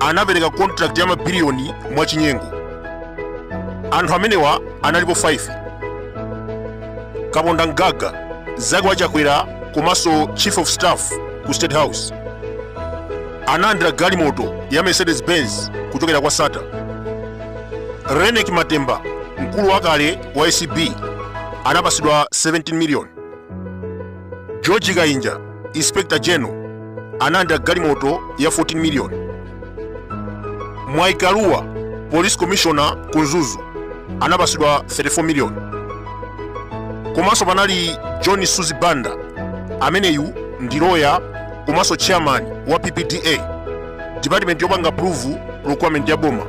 anapereka contract ya mabiliyoni mwachinyengo anthu amenewa analipo 5 kaponda mgaga mzake wa chakwera komanso chief of staff ku state house analandira galimoto ya mercedes benz kuchokera kwa sattar reyneck matemba mkulu wakale wa acb anapasidwa 17 million george kainja inspector general analandira galimoto ya 14 million mwabi kaluba police commissioner ku mzuzu anapasidwa 34 million komanso panali john suzi banda ameneyu ndi loya komanso chairman wa ppda department yopanga approve procurement ya boma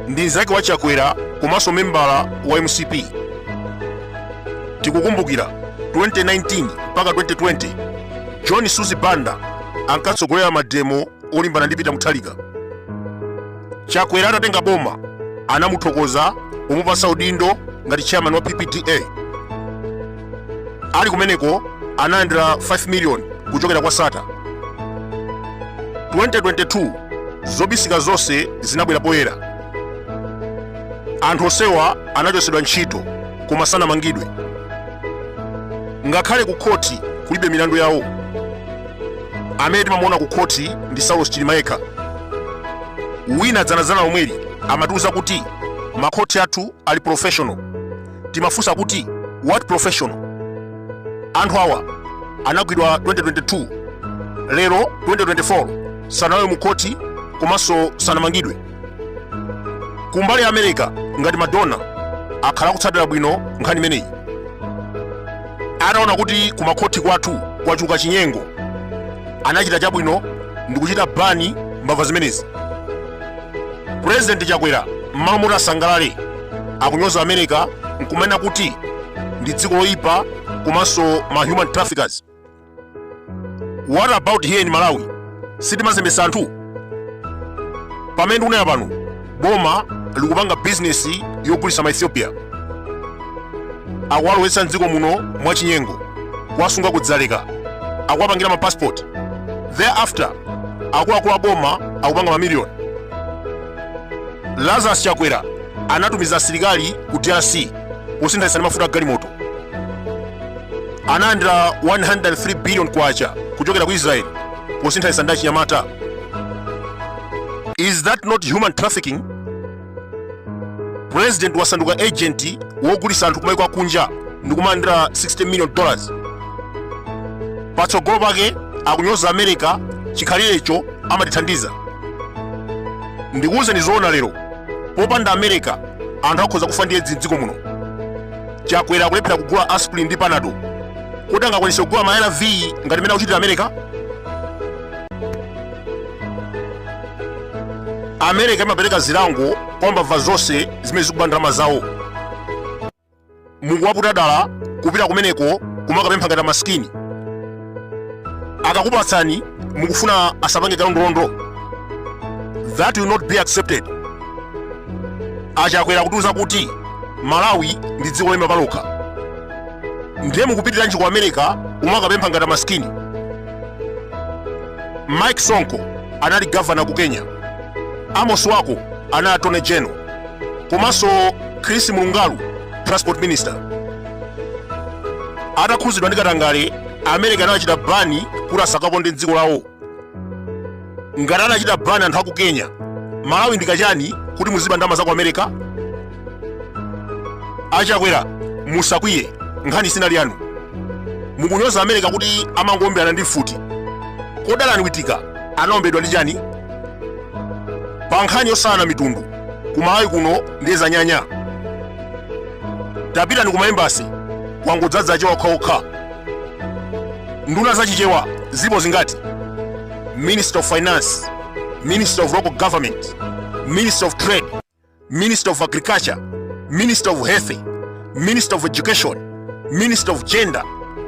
ndi mzake wa chakwera komanso membala wa mcp tikukumbukira 2019 mpaka 2020 john suzi banda ankatsogolera mademo olimbana ndi peter mutharika chakwera atatenga boma anamuthokoza pomupasa udindo ngati chairman wa ppda ali kumeneko analandira 5 million kuchokera kwa sattar 2022 zobisika zonse zinabwera poyera anthu onsewa anachotsedwa ntchito koma sanamangidwe ngakhale ku khoti kulibe milandu yawo amene timamuona ku khoti ndi saulos chilima yekha wina dzanadzana omweli amatiuza kuti makhoti athu ali professional timafunsa kuti what professional anthu awa anagwidwa 2022 lero 2024 sanalowe mu khoti komanso sanamangidwe kumbali ya america ngati ma donor akhala akutsatira bwino nkhani imeneyi ataona kuti kumakhothi kwathu kwachuluka chinyengo anachita chabwino ndikuchita ban mbava zimenezi purezidenti chakwera m'malo moti asangalale akunyoza america nkumena kuti ndi dziko loyipa komanso ma human traffickers what about here in malawi sitimazembesa anthu pamene ndikunena pano boma likupanga bizinesi yogulitsa ma ethiopian akuwalowetsa mdziko muno mwachinyengo kuwasunga kudzaleka akuwapangira ma passport thereafter akuluakulu a boma akupanga mamiliyoni lazarus chakwera anatumiza asilikali ku drc posinthanitsa ndi mafuta a galimoto analandira 103 billion kwacha kuchokera ku israel posinthanitsa ndi achinyamata is that not human trafficking president wasanduka agent wogulitsa anthu kumayiko akunja ndi kumalandira 60 million dollars patsogolo pake akunyoza america chikhalirecho amatithandiza ndikuuzeni zoona lero popanda america anthu akhoza kufa ndi edzi mdziko muno chakwera akulephera kugula aspirin ndi panado kuti angakwanise kugula ma arv ngati mene akuchitira america america ikumapereka zilango kwa mbava zonse zimene zikuba ndalama zawo mukuwaputa dala kupita kumeneko kumakapempha ngati amasikini akakupatsani mukufuna asapange kalondolondo that will not be accepted achakwera kutiuza kuti malawi ndi dziko loima palokha ndiye mukupitiranji ku america kumakapempha ngati amasikini mike sonko anali gavana ku kenya amos wako anali attorney general komanso chris murungaru transport minister atakhudzidwa ndi katangale america anawachita ban kuti asakaponde mdziko lawo ngati anachita ban anthu aku kenya malawi ndi kachani kuti muziba ndama za ku america achakwera musakwiye nkhani sinali yanu mukunyoza america kuti amangoomberana ndi mfuti kodi allan witika anaombedwa ndi chani pa nkhani yosalana mitundu kumalawi kuno ndiye zanyanya tapitani ku ma embassy kwangodzadza achewa okhaokha nduna za chichewa zilipo zingati minister of finance minister of local government minister of trade minister of agriculture minister of health minister of education minister of gender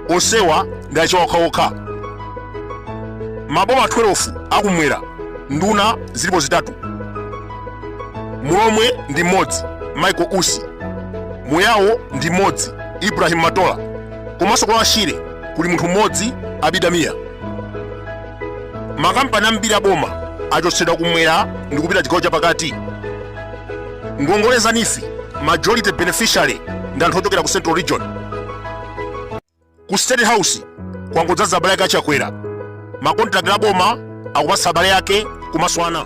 onsewa ndi achewa okhaokha maboma 12 akumwera nduna zilipo zitatu mulomwe ndi mmodzi michael usi muyawo ndi mmodzi ibrahim matola komanso ku lower shire kuli munthu mmodzi abida mia makampani ambiri aboma achotsedwa kumwera ndi kupita chigawo chapakati ngongole za neef majority beneficiary ndi anthu ochokera ku central region ku state house kwangodzadza abale ake achakwera makontrakti aboma akupatsa abale ake kumaswana